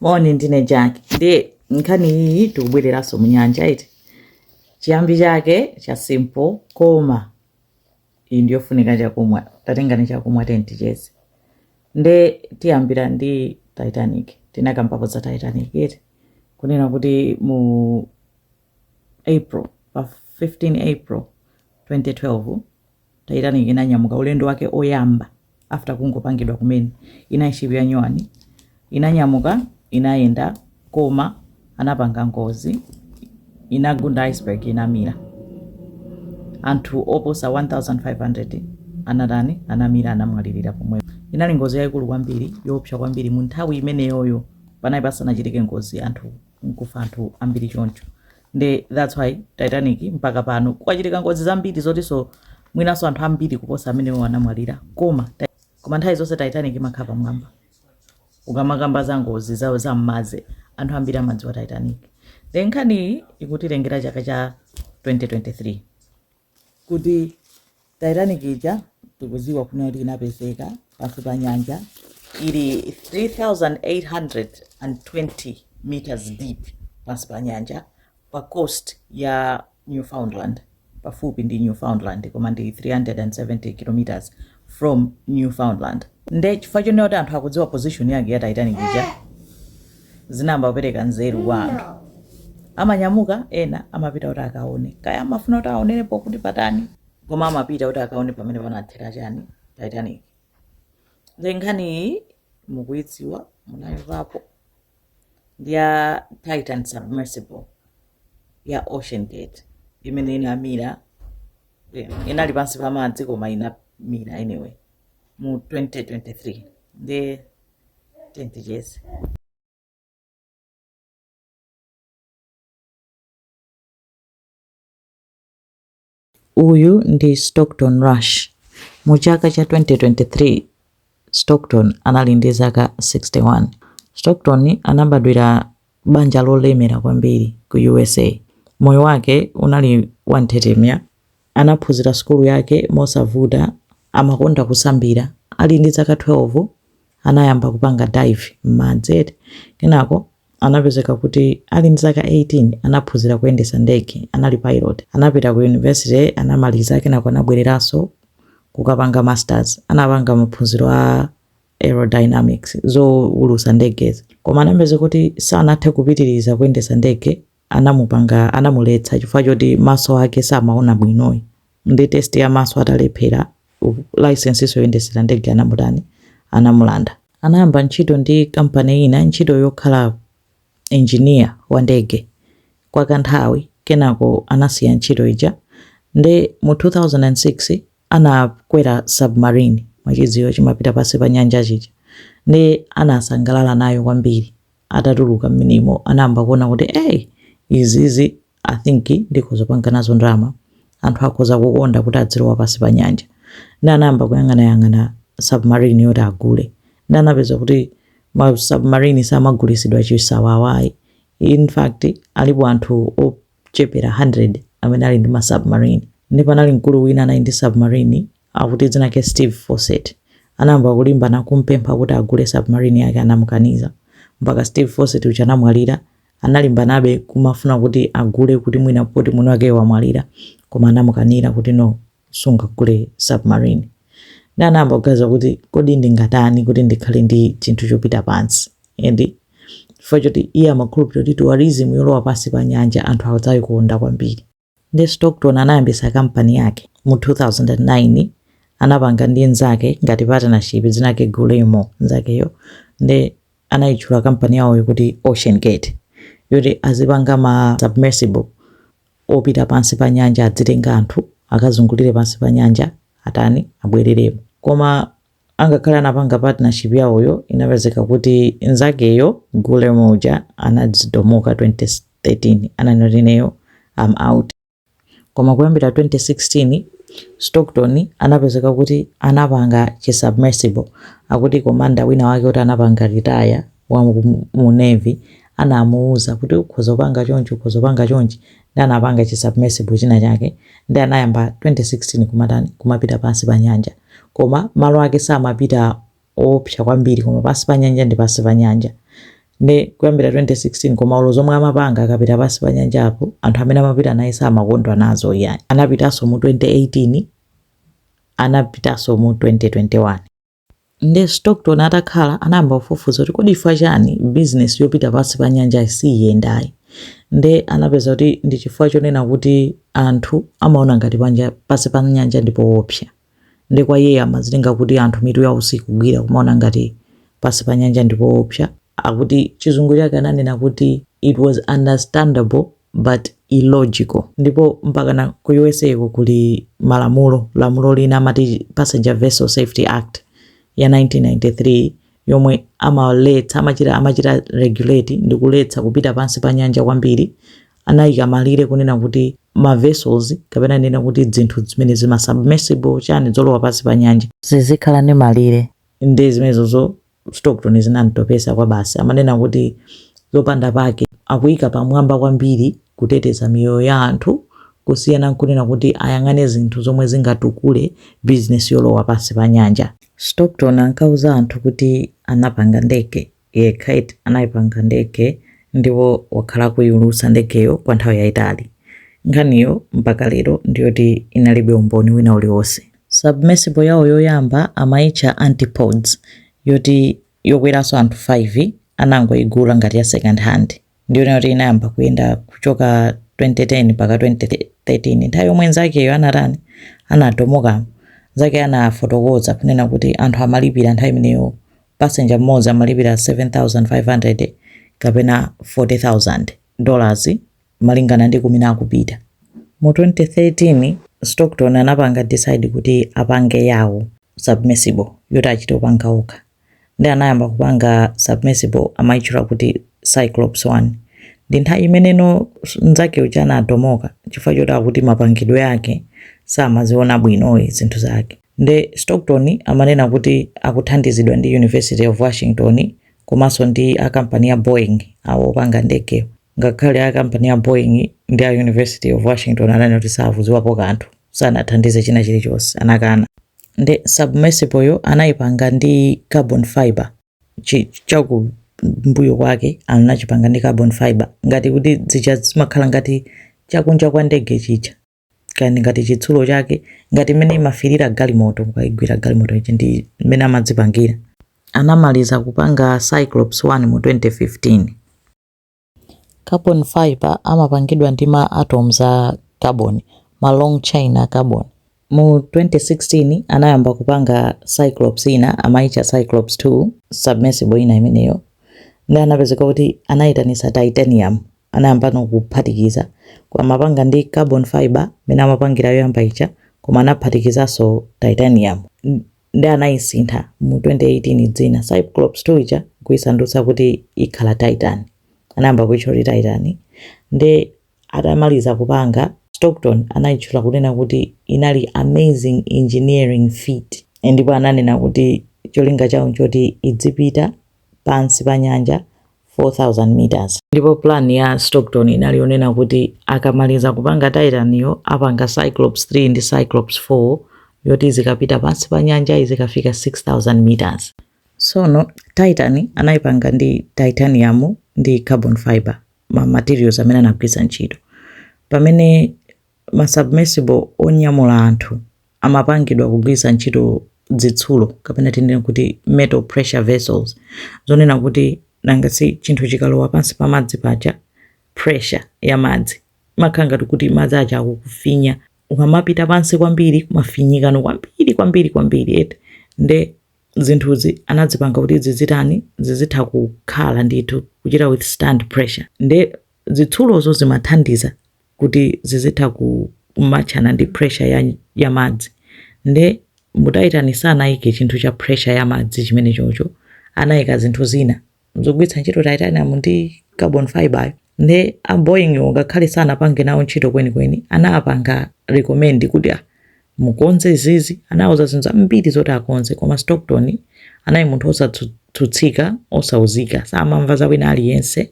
moni ndine jack ndi nkhani iyi tikubwereranso mu nyanja iti chiyambi chake cha simple koma ndi yofunika chakumwa tatengani chakumwa tenticheze nde tiyambira ndi titanic tinakambapo za titanic iti kunena kuti mu April, Pa 15 April 2012, Titanic inanyamuka ulendo wake oyamba after kungopangidwa kumene. Inali ship yanyuwani. Inanyamuka, inayenda koma inapanga ngozi. Inagunda iceberg inamira. Anthu oposa 1500 anatani anamira anamwalirira pomwe. Inali ngozi yayikulu kwambiri, yoopsa kwambiri mu nthawi imeneyoyo panali pasanachitike ngozi anthu nkufa anthu ambiri choncho nde that's why titanic mpaka pano kwachitika ngozi zambiri zotinso mwinanso anthu ambiri kuposa amenewo anamwalira koma ti- koma nthawi zonse titanic imakhala pamwamba ukamakamba za ngozi zaza mmadzi anthu ambiri amadziwa titanic then nkhaniyi ikutitengera chaka cha 2023 kuti titanic ija tikuziwa kunena kuti inapezeka pansi pa nyanja ili 3820 meters deep pansi pa nyanja pa coast ya newfoundland pafupi ndi newfoundland koma ndi 370 kilometers from newfoundland nde chifukwa chonena kuti anthu akudziwa position yake ya titanic ija zinayamba kupereka nzeru kwa anthu amanyamuka ena amapita kuti akaone kaya amafuna kuti aonerepo kuti patani koma amapita kuti akaone pamene panathera chani titanic nde nkhaniyi mukuidziwa munaimvapo ndi ya titan submersible ya ocean gate imene inamira eh, inali pansi pa madzi koma inamira anyway mu 2023 nde tenticheze Uyu ndi Stockton Rush. Mu chaka cha 2023, Stockton anali ndi zaka 61. Stockton anabadwira banja lolemera kwambiri ku USA. Moyo wake unali wanthetemya. Anaphunzira sukulu yake mosavuta, amakonda kusambira. Ali ndi zaka 12, anayamba kupanga dive m'madzi eti. Kenako Anapezeka kuti ali ndi zaka 18 anaphunzira kuyendetsa ndege, anali pilot. Anapita ku university anamaliza kenako anabwereranso kukapanga masters. Anapanga maphunziro a aerodynamics, zowulutsa ndegezi. Koma anapezeka kuti sanathe kupitiriza kuyendetsa ndege anamupanga anamuletsa chifukwa choti maso ake samaona bwinoyi nde test ya maso atalephera license yoyendesera ndege anamutani anamulanda anayamba ntchito ndi kampani ina ntchito yokhala engineer wa ndege kwa kanthawi kenako anasiya ntchito ija nde mu 2006 anakwera submarine mwachidziwa chimapita pansi pa nyanja chija nde anasangalala nayo kwambiri atatuluka mmenemo anayamba kuona kuti ey izizi i think ndikhoza kupanga nazo ndalama anthu akhoza kukonda kuti adzilowa pansi pa nyanja nde anayamba kuyang'anayang'ana submarine yoti agule nde anapeza kuti ma submarine samagulisidwa chisawawayi in fact alipo anthu ochepera 100 amene ali ndi ma submarine nde panali mkulu wina anali ndi submarine Akuti dzina lake Steve Fossett anayamba kulimbana kumpempha kuti agule submarine yake anamukaniza. Mpaka Steve Fossett uja anamwalira analimbanabe kumafuna kuti agule kuti mwina poti mwini wakeyo wamwalira koma anamukanira kuti no sungagule submarine. Nde anayamba kuganiza kuti kodi ndingatani kuti ndikhale ndi chinthu chopita pansi and chifukwa choti iye amakhulupirira kuti tourism yolowa pansi pa nyanja anthu adzaikonda kwambiri. Nde Stockton anayambisa company yake mu 2009 anapanga ndi nzake ngati partnership dzina lake Guillermo nzakeyo nde anayitchula company yawoyo kuti Ocean Gate yoti azipanga ma submersible opita pansi pa nyanja adzitenga anthu akazungulire pansi pa nyanja atani abwereremo koma angakhale anapanga partnership yawoyo inapezeka kuti nzakeyo guillermo uja anadzidomoka 2013 ananena kuti ineyo I'm out koma kuyambira 2016 stockton anapezeka kuti anapanga chisubmersible akuti komanda wina wake kuti anapanga retire wa mu- mu navy anamuuza kuti ukhoza kupanga chonchi ukhoza kupanga chonchi nde anapanga chi submersible china chake nde anayamba 2016 kumatani kumapita pansi pa nyanja koma malo ake samapita oopsa kwambiri koma pansi pa nyanja ndi pansi pa nyanja nde kuyambira 2016 koma olo zomwe amapanga akapita pansi pa nyanjapo anthu amene amapita naye samakondwa nazoyi anapitanso mu 2018 anapitanso mu 2021 Nde Stockton atakhala anayamba kufufuza kuti kodi chifukwa chani business yopita pansi pa nyanja siyiyendayi. Nde anapeza kuti ndi chifukwa chonena kuti anthu amaona ngati panja pansi pa nyanja ndi poopsa. Nde kwa iyeyo amazitenga kuti anthu mitu yawo sikugwira kumaona ngati pansi pa nyanja ndi poopsa. Akuti chizungu chake ananena kuti it was understandable. but illogical. Ndipo mpakana ku USA ko kuli malamulo, lamulo lina amati Passenger Vessel Safety Act ya 1993 yomwe amaletsa amachita amachita regulate ndi kuletsa kupita pansi pa nyanja kwambiri, anayika malire kunena kuti ma vessels kapena nena kuti dzinthu zimene zima submersible chani zolowa pansi pa nyanja zizikhala ndi malire ndi zimenezozo Stockton zinamtopesa kwabasi. Amanena kuti zopanda pake akuika pamwamba kwambiri kuteteza miyoyo ya anthu kusiyana nkunena kuti ayang'ane zinthu zomwe zingatukule bizinesi yolowa pansi pa nyanja. Stockton ankauza anthu kuti anapanga ndege yekha, eti anayipanga ndege ndipo wakhala akuiulutsa ndegeyo kwa nthawi yayitali. Nkhaniyo mpaka lero ndiyoti inalibe umboni wina uliwonse. Submersible yawo yoyamba amaitcha Antipodes yoti yokweranso anthu 5 anangoigula ngati ya second hand ndiyoti inayamba kuyenda kuchoka 2010 mpaka 2013 nthawi yomwe nzakeyo anatani anadomokamo nzake anafotokoza kunena kuti anthu amalipira nthawi imeneyo passenger mmodzi amalipira 7,500 kapena 40,000 dollars malingana ndi kumene akupita. Mu 2013 Stockton anapanga decide kuti apange yawo submersible yoti achite kupanga okha nde anayamba kupanga submersible amaitchula kuti Cyclops 1 nde nthawi imeneyo nzake uja anadomoka chifukwa choti akuti mapangidwe ake samaziona bwino iyi zinthu zake nde Stockton amanena kuti akuthandizidwa ndi University of Washington komanso ndi a kampani ya Boeing awo opanga ndegewo. Ngakhale a kampani ya Boeing ndi a University of Washington ananena kuti sakudziwapo kanthu, sanathandize china chilichonse, anakana. Nde submersible yo anayipanga ndi carbon fiber, chi chakumbuyo kwake anachipanga ndi carbon fiber ngati kuti zija zimakhala ngati chakunja kwa ndege chija kaya ngati chitsulo chake ngati mmene imafilira galimoto mukayigwira galimoto ija ndi mmene amadzipangira. Anamaliza kupanga Cyclops 1 mu 2015. Carbon fiber amapangidwa ndi ma atoms a carbon, ma long chain a carbon. Mu 2016 anayamba kupanga Cyclops ina amaitcha Cyclops 2, submersible ina imeneyo, nde anapezeka kuti anaitanitsa titanium, anayambano kuphatikiza, amapanga ndi carbon fiber imene amapangira yoyamba ija koma anaphatikizanso titanium. nde anaisintha mu 2018 dzina cyclops 2 ija kuisandutsa kuti ikhala titan anayamba kuitchula kuti titan nde atamaliza kupanga stockton anaitchula kunena kuti inali amazing engineering feat ndipo ananena kuti cholinga chawo nchoti idzipita pansi pa nyanja 4,000 meters. Ndipo plan ya Stockton inali yonena kuti akamaliza kupanga Titan yo apanga Cyclops 3 ndi Cyclops 4 yoti izikapita pansi pa nyanja izikafika 6,000 meters. Sono Titan anayipanga ndi titanium ndi carbon fiber ma materials amene anagwiritsa ntchito pamene ma submersible onyamula anthu amapangidwa kugwiritsa ntchito zitsulo kapena tinene kuti metal pressure vessels zonena kuti nanga si chinthu chikalowa pansi pa madzi paja pressure ya madzi imakhala ngati kuti madzi aja akukufinya ukamapita pansi kwambiri umafinyikano kwambiri kwambiri kwambiri eti nde zinthuzi anazipanga kuti zizitani zizitha kukhala ndithu kuchita withstand pressure nde zitsulozo zimathandiza kuti zizitha ku matchana ndi pressure ya, ya madzi nde mu Titan sanaike chinthu cha pressure ya madzi chimene chocho anaika zinthu zina zogwiritsa ntchito titanium ndi carbon fiber yo nde a Boeing wo ngakhale sanapange nawo ntchito kwenikweni anapanga recommend kuti ah, mukonze izizi anauza zinthu zambiri zoti akonze koma Stockton anali munthu osatsutsika osauzika samamva za wina aliyense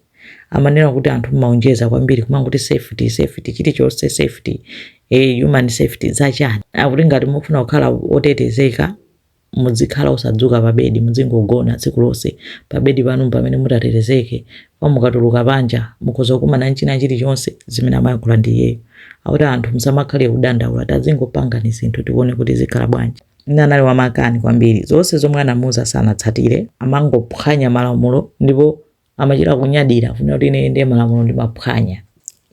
amanena kuti anthu mmaonjeza kwambiri kumangoti safety safety chilichonse safety eh, human safety zachani akuti ngati mufuna kukhala otetezeka Mudzikhala osadzuka pa bedi, mudzingogona tsiku lonse. Pa bedi panu mpamene mutatetezeke. Koma mukatuluka panja, mukhoza kukumana n'china chilichonse, zimene amayankhula ndiye iyeyo. Akuti anthu musamakhale kudandaula, tazingopangani zinthu tione kuti zikhala bwanji. Anali wamakani kwambiri. Zonse zomwe anamuuza sanatsatire, amangophwanya malamulo ndipo amachita kunyadira kunena kuti ine ndiye malamulo ndimaphwanya.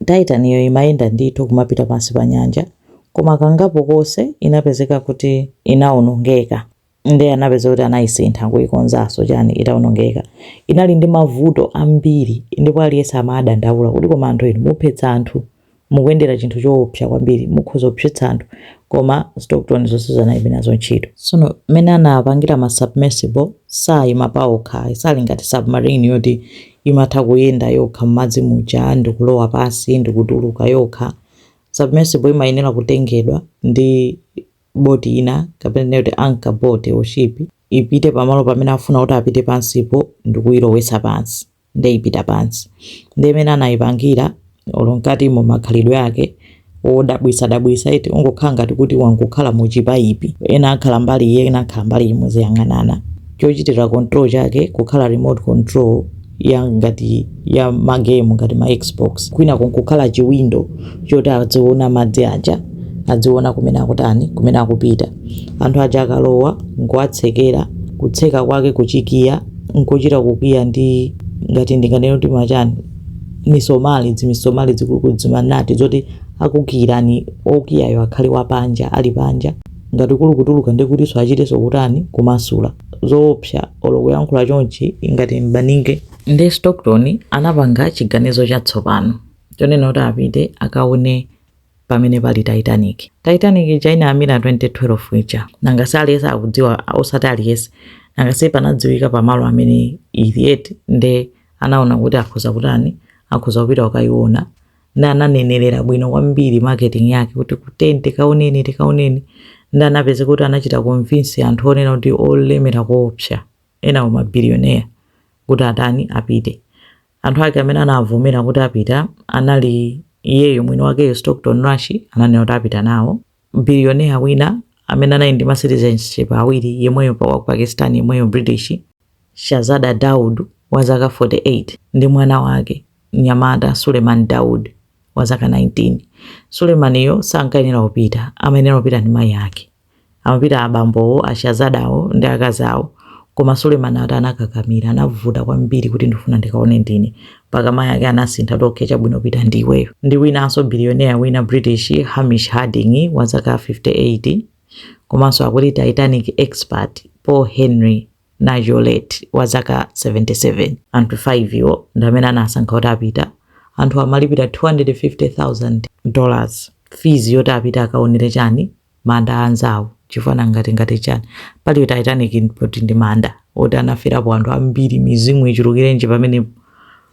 Titan-yo imayenda ndithu kumapita pansi pa nyanja, koma kangapo konse inapezeka kuti inawonongeka. Ndiye anapeza kuti anayisintha kuyikonzanso chani itawonongeka. Inali ndi mavuto ambiri ndipo aliyense amadandaula kuti koma anthu inu muphetsa anthu. Mukuyendera chinthu choopsa kwambiri, mukhoza kuphetsa anthu koma Stockton zonsezo analibe nazo ntchito. Sono mmene anawapangira ma submersible saima paokha, sali ngati submarine yoti imatha kuyenda yokha mmadzi muja ndikulowa pansi ndikutuluka yokha. Submersible imayenera kutengedwa ndi boat ina kapena tinene kuti anchor boat or ship ipite pamalo pamene akufuna kuti apite pansipo ndikuilowetsa pansi. nde ipita pansi. Nde imene anayipangira olo mkati mu makhalidwe ake odabwisa dabwisa eti ungokhala ngati kuti wangokhala mu chipayipi. Ena akhala mbali iyi ena akhala mbali iyi muziyang'anana. Chochitira control chake kukhala remote control ya ngati ya ma game ngati ma Xbox. Kwina kukhala chi window choti adziona madzi aja adziona kumene akutani kumene akupita. Anthu aja akalowa nkuwatsekera kutseka kwake kuchikiya. nkuchita kukiya ndi ngati ndinganene kuti machani misomali dzimisomali dzikulukulu dzimanati zoti akukiirani okiyayo akhale wapanja ali panja ngati kuli kutuluka ndi kutinso achitenso kutani kumasula zoopsa olo kuyankhula chonchi ngati mbaninge ndiye stockton anapanga chiganizo chatsopano chonena kuti apite akaone pamene pali titanic titanic inaamira 1912 ija nanga si aliyense akudziwa osati aliyense nanga si panadziwika pamalo amene ili eti nde anaona kuti akhoza kutani akhoza kupita kukayiona nde ananenerera bwino kwambiri marketing yake kuti tiyeni tikaoneni tikaoneni nde anapezeka kuti anachita convince anthu wonena kuti olemera koopsa enawo mabiliyoneya kuti atani apite Anthu ake amene anavomera kuti apita anali iyeyo mwini wakeyo Stockton Rush ananena kuti apita nawo. Billionaire wina amene anali ndi ma citizenship awiri yemweyo pa wa ku Pakistan yemweyo British Shahzada Dawood wa zaka 48 ndi mwana wake mnyamata Suleiman Dawood wa zaka 19. Suleiman yo sankayenera kupita, amayenera kupita ndi mayi ake. Amapita abambowo, a Shahzada wo ndi akazi awo. Koma Suleiman akuti anakakamira. Anavuta kwambiri kuti ndifuna ndikaone ndine. Mpaka mayi ake anasintha kuti okay chabwino pita ndiweyo. Ndi winanso billionaire wina British, Hamish Harding wa zaka 58 komanso akuti Titanic expert Paul Henry Nargeolet wa zaka 77. Anthu 5 wo ndi amene anasankha kuti apita. Anthuwa amalipira 250,000 dollars fees yoti apite akaonere chani? manda anzawo chifukwa nanga tingati chani pali titanic poti ndi manda oti anaferapo anthu ambiri mizimu ichulukirenji pamene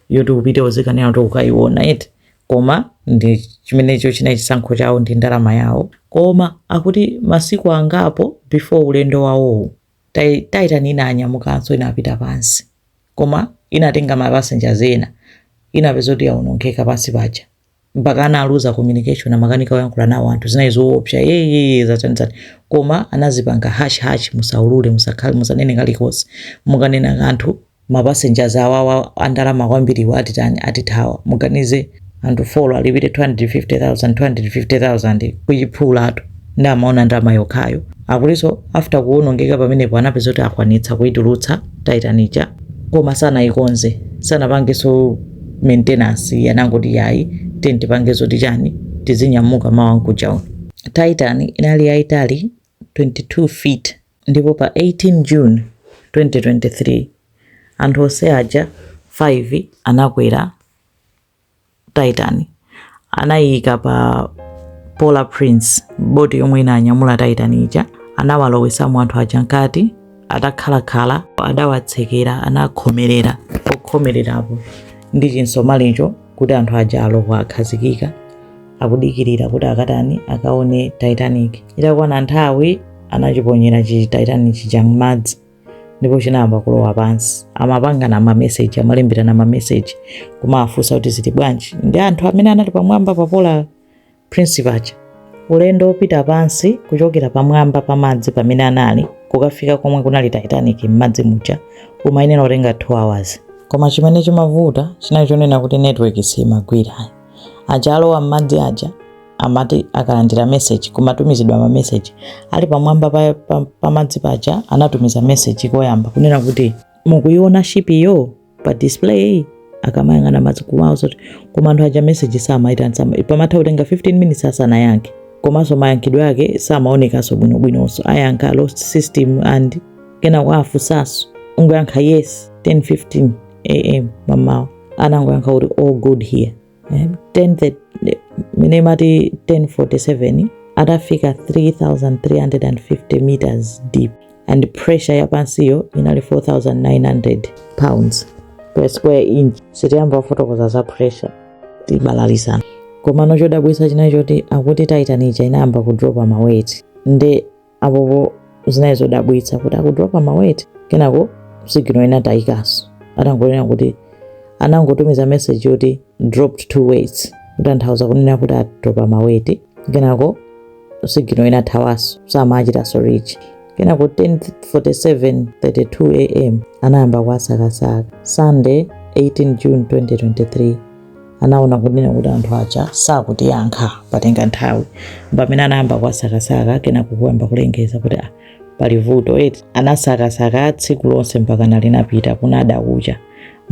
yoti upite uzikanena kuti ukayiona eti koma ndi chimenecho china chisankho chawo ndi ndalama yawo koma akuti masiku angapo before ulendo wawowu titan inanyamukanso inapita pansi koma inatenga ma passengers ena inapeza kuti yaonongeka pansi paja mpaka analuza communication amakanika kuyankhula nawo anthu zinali zoopsa yeyeye zatanizati koma anazipanga hush hush musaulule musakhale musanene kalikonse mukanena kanthu mapasengers awawa andalama kwambiriwa atitani atithawa muganize anthu folo alipire 250000 250000 kuchiphulatu nde amaona ndalama yokhayo akutinso after kuwonongeka pamenepo anapeza kuti akwanitsa kuitulutsa titan ija koma sanayikonze sanapangenso maintenance anangoti ayi tiyeni tipange zoti chani tizinyamuka mawa nkuja uno titan inali yayitali 22 feet ndipo pa 18 june 2023 anthu onse aja 5 anakwera Titan anaiika pa Polar Prince, boti yomwe inanyamula Titan ija. Anawalowesamo anthu aja mkati, atakhalakhala adawatsekera, anakhomerera pokhomererapo ndi chitsulocho kuti anthu aja alowa akhazikika akudikirira kuti akatani akaone Titanic. Itakwana nthawi anachiponyera chi Titan chija m'madzi. ndipo chinayamba kulowa pansi amapangana mameseji amalembirana mameseji kumawafunsa kuti zili bwanji ndi anthu amene anali pamwamba pa polar prince paja ulendo wopita pansi kuchokera pamwamba pa madzi pamene anali kukafika komwe kunali titanic m'madzi muja umayenera kutenga 2 hours koma chimene chimavuta chinali chonena kuti network simagwira aja alowa m'madzi aja amati akalandira message kumatumizidwa ma message ali pamwamba pa, pa, pamadzi paja anatumiza message koyamba kunena kuti mukuiona ship iyo pa display akamayang'ana madzi kumaona zoti koma anthu aja message samaitana sama pamatha kutenga 15 minutes asanayankhe komanso mayankhidwe ake samaonekanso bwinobwinonso ayankha lost system and kenako kuwafunsanso kungoyankha yes 10:15 am mamawa anangoyankha kuti all good here eh, 10 the- the- imene imati 1047 atafika 3350 meters deep and pressure yapansiyo inali 4900 pounds per square inch sitiyamba kufotokoza za pressure tibalalisana komano chodabwitsa chinali choti akuti titan ija inayamba kudropa maweti nde apopo zinali zodabwitsa kuti akudropa maweti kenako signal inatayikaso atangonena kuti anangotumiza message yoti dropped two weights kutanthauza kunena kuti adropa maweti kenako signal inathawaso samachitaso reach kenako 10:47 32 am anayamba kuwasakasaka sunday 18 june 2023 anaona kunena kuti anthu aja sakutiyankha patenga nthawi pamene anayamba kuwasakasaka kenako kuyamba kulengeza kuti ah, pali vuto eti anasakasaka tsiku lonse mpaka na linapita kunada kucha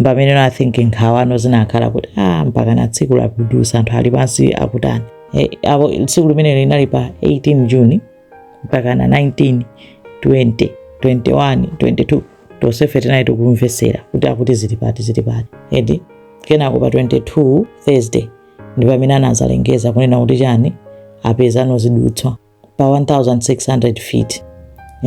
pamene I think nkhawa no zinakhala kuti ah, mpaka na tsiku likudutsa anthu ali pansi akutani e, apo tsiku limene linali pa 18 juni mpaka na 19 20 21 22 tonsefe tinali tikumvetsera kuti akuti zili pati zili pati edi kenako pa 22 thursday ndi pamene anazalengeza kunena kuti chani apeza no zidutswa pa 1600 feet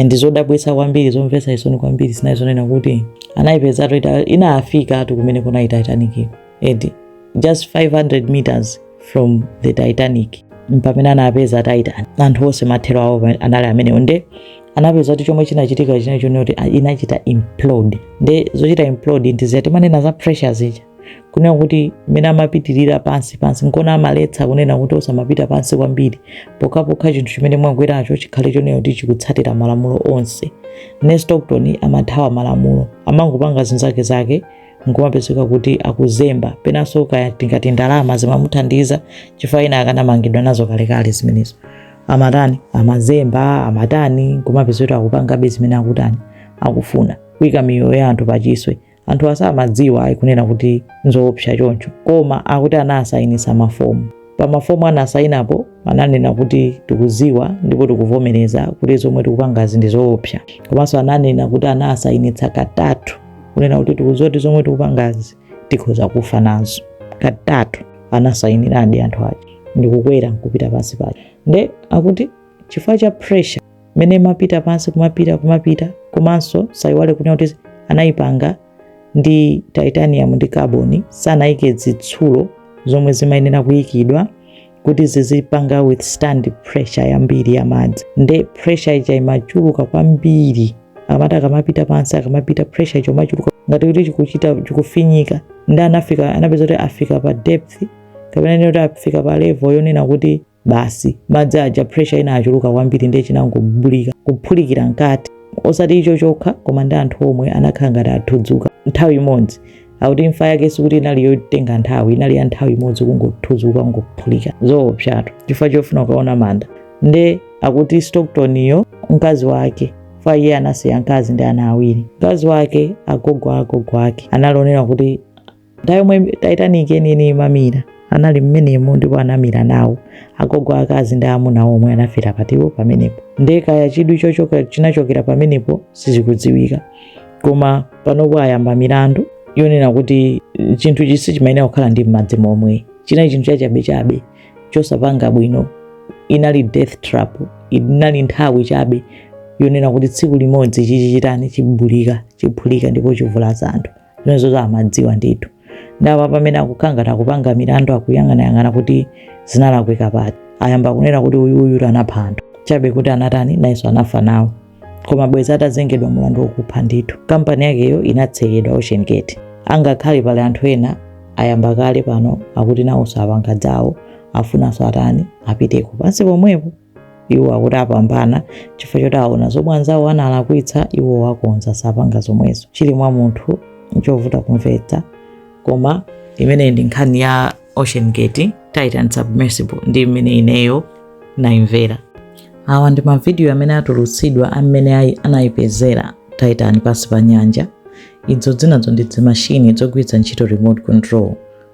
and zodabwitsa kwambiri zomvetsa chisoni kwambiri zinali zonena kuti anayipezatu ita- inafikatu kumene kunali titanic eti just 500 meters from the titanic mpamene anapeza titan anthu onse mathero awo pa- anali amenewo nde anapeza kuti chomwe chinachitika chinali chonena kuti ah, inachita implode nde zochita implode ndi zija timanena za pressure zija kunena kuti mmene amapitirira pansi pansi nkona amaletsa kunena kuti osamapita pansi kwambiri pokhapokha chinthu chimene mwakweracho chikhale chonena kuti chikutsatira malamulo onse ne stockton amathawa malamulo amangopanga zizake zake nkumapezeka kuti akuzemba penanso kaya tingati ndalama zimamuthandiza chifukwa ina akanamangidwa nazo kalekale zimenezo amatani amazemba amatani nkumapezeka kuti akupangabe zimene akutani akufuna kuika miyoyo ya anthu pachiswe anthu asamadziwa ayi kunena kuti nzoopsa choncho koma akuti anawasayinisa mafomu pa mafomu anasayinapo ananena kuti tikuziwa ndipo tikuvomereza kuti zomwe tikupangazi ndi zoopsa komanso ananena kuti anasayinitsa katatu kunena kuti tikuziwa kuti zomwe tikupangazi tikhoza kufa nazo katatu anasayiniradi anthu aja ndikukwera nkupita pansi paja nde akuti chifukwa cha pressure mmene imapita pansi kumapita kumapita komanso sayiwale kunena kuti anayipanga ndi titanium ndi carbon sanayike zitsulo zomwe zimayenera kuyikidwa kuti zizipanga withstand pressure yambiri ya madzi nde pressure ija imachuluka kwambiri akamati akamapita pansi akamapita pressure ija imachuluka ngati kuti chikuchita chikufinyika ndi anafika anapeza kuti afika pa depth kapena ndi kuti afika pa level yonena kuti basi madzi aja pressure inachuluka kwambiri ndi chinangobulika kuphulikira mkati osati icho chokha koma ndi anthu omwe anakhala ngati athudzuka nthawi imodzi akuti imfa yake sikuti inali yotenga nthawi inali ya nthawi imodzi kungothuzuka kungophulika zoopsatu chifukwa chofuna kukaona manda nde akuti stocktonyo mkazi wake pa iye anasiya mkazi ndi ana awiri mkazi wake agogo a agogo ake anaonera kuti nthawi yomwe titanic yeniyeni imamira anali mmenemo ndipo anamira nawo agogo akazi ndi amuna omwe anafera patiwo pamenepo ndiye kaya chidwi chochoka- chinachokera pamenepo sizikudziwika koma panopo ayamba milandu yonena kuti eh, chinthuchi sichimayenera kukhala ndi m'madzi momwe chinali chinthu chachabechabe chosapanga bwino inali death trap inali nthawi chabe yonena kuti tsiku limodzi chichitani chibulika chiphulika ndipo chivulaza anthu zimenezozo amadziwa ndithu nde apa pamene akukhala ngati akupanga milandu akuyang'anayang'ana kuti zinalakwika pati ayamba kunena kuti uyu uyu anapha anthu chabe kuti anatani nayenso anafa nawo koma bwezi atazengedwa mulandu wokupha ndithu kampani yakeyo inatsekedwa ocean gate angakhale pali anthu ena ayamba kale pano akuti nawonso apanga zawo afunanso atani apiteko pansi pomwepo iwo akuti apambana chifukwa choti aona zomwe anzawo analakwitsa iwo wakonza sapanga zomwezo chili mwa munthu nchovuta kumvetsa koma imeneyi ndi nkhani ya ocean gate titan submersible ndi mmene ineyo naimvera awa ndi mavidiyo amene atulutsidwa amene anayipezera titan pansi pa nyanja idzo dzinazo ndi dzimashini dzogwiritsa ntchito remote control